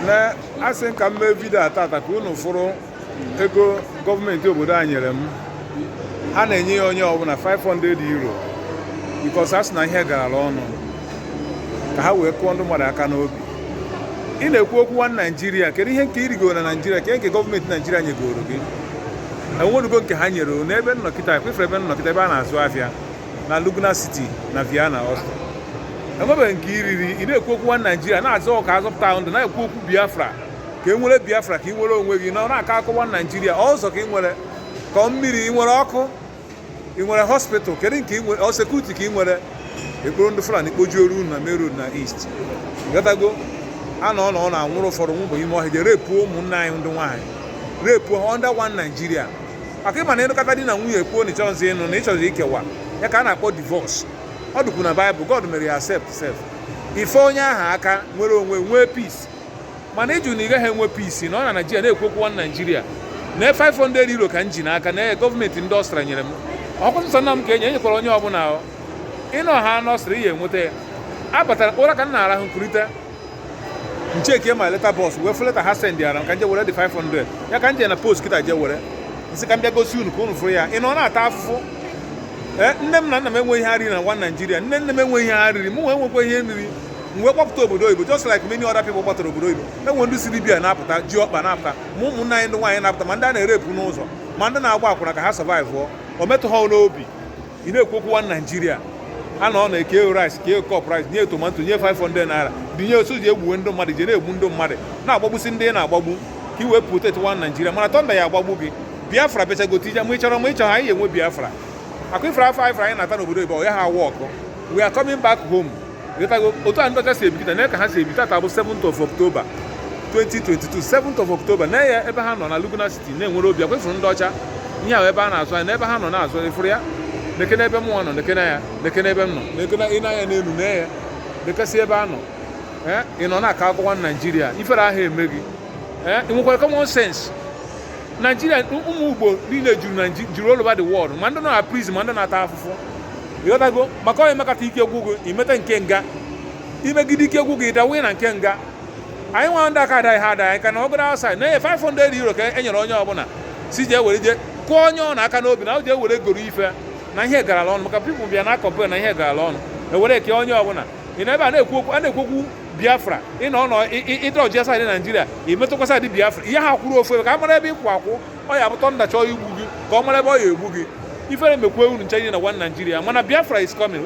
na asị m ka m mee vidio a tata ka unu fụrụ ego gọọmenti obodo a nyere m ha na-enye ya onye ọbụla 500 euro because a sị na ihe garala ọnụ ka ha wee kụọ ndị mmadụ aka n'obi ị na-ekwu okwu one naijiria kedu ihe nke i rigoro na naijiria ke nke gọọmenti naijiria nyegoro gị enwenugo nke ha nyere unu ebe m nọ kịta kwa ị fụrụ ebe m nọ kịta ebe a na-azụ afịa na Lugner City na Vienna Austria enwebeghị nke i riri ị na-ekwu okwu one Naijiria na-azọ ka a zọpụta ahụ ndụ na-ekwu okwu Biafra ka e nwere Biafra ka ị nwere onwe gị nọ na-akọ akụkọ one Naijiria ụzọ ka ị nwere ka ọ mmiri ị nwere ọkụ ị nwere hospital kedu nke ị nwere ọ security ka ị nwere e kporo ndị Fulani kpojuoro unu na main road na east ghọtago a nọ ọnọ na-anwụrụ ụfọdụ nwụba ime ọhịa je repuo ụmụnne anyị ndị nwaanyị repuo ha under one Nigeria maka ị ma na ị nụkata di na nwunye kwuo na ị chọzi ịnụ na ị chọzi ikewa ya ka a na-akpọ divorce ọ dịkwu na Bible God mere ya accept sef ife onye ahụ aka nwere onwe nwee peace mana ị jụ na ị gaghị enwe peace nọ na naijiria na-ekwu okwu one naijiria nee 500 euro ka m ji n'aka na gọọmenti ndị Austria nyere m ọkwa nsọ nna m ka enye e nyekwara onye ọbụla ị nọ ha n'Austria ị ya-enweta ya abatara ụra ka m na-arahụ m kurite m checkie my letter box wee fụ letter ha sendịara m ka nje were the 500 ya ka nje na post kịta je were nsị ka m bịa gosi unu ka unu fụrụ ya ị nọ na-ata afụfụ ee nne m na nna m enweghị ihe ha riri na one naijiria nne nne m enweghị ihe ha riri mụ wee nwekwa ihe m riri m wee gbapụta obodo oyibo just like many other people gbatara obodo oyibo e nwee ndị si Libya na-apụta ji ọkpa na-apụta ma ụmụnne anyị ndị nwaanyị na-apụta ma ndị a na-erepụ n'ụzọ ma ndị na-agba akwụna ka ha survive o metụ ha n'obi ị na-ekwu okwu one Nigeria a nọ ọnọ e kee rice kee cup rice nye tomato nye 500 naira dinye osu ji egbuwe ndị mmadụ je na-egbu ndị mmadụ na-agbagbusi ndị ị na-agbagbu ka i wee protect one Nigeria mana thunder ya-agbagbu gị Biafra bịachagote ije ma ị chọrọ ma ị chọrọ anyị ya-enwe Biafra maka afụfụ a afụfụ a anyị na-ata n'obodo oyibo ọ ya ha awa ọkụ we are coming back home ịghọtago otu a ndị ọcha si ebi kịta na ka ha si ebi tata bụ 7th of October 2022 7th of October na ya ebe ha nọ na Lugner City na-enwere obi ọkwa ị fụrụ ndị ọcha ihe ahụ ebe a na-azụ ahịa na ebe ha nọ na-azụ ị fụrụ ya nekene ebe mụnwa nọ nekene ya nekene ebe m nọ nekene nee anya n'elu na ya nekesị ebe a nọ ee ị nọ na-akọ akụkọ one Naịjirịa ifere aha eme gị ee ị nwekwara common sense Naịjirịa ụmụ Igbo niile juru Naịji- juru all over the world ma ndị nọ na prison ma ndị na-ata afụfụ ịghọtago maka onye mekata ike gwụ gị i meta nke nga i megide ike gwụ gị ị dawe na nke nga anyị nwa ndị aka ada ihe ada anyị ka nọgụrụ outside nee 500 euro ka e nyere onye ọbụla sị je were je kụọ onwe unu aka n'obi na o je were goro ife na ihe garala ọnụ maka people bịa na-acomplain na ihe garala ọnụ e were kee onye ọbụla ị nọ ebe a na-ekwu okwu a na-ekwu okwu biafra ị nọ ọnọ ịdọji a side naijiria i metụkwa side biafra ị yaha akwụrụ ofu ebe ka a mara ebe ị kwụ akwụ ọ ya-abụ thunder chọọ igbu gị ka ọ mara ebe ọ ya-egbu gị ifere mekwe unu ncha nye na one Nigeria mana Biafra is coming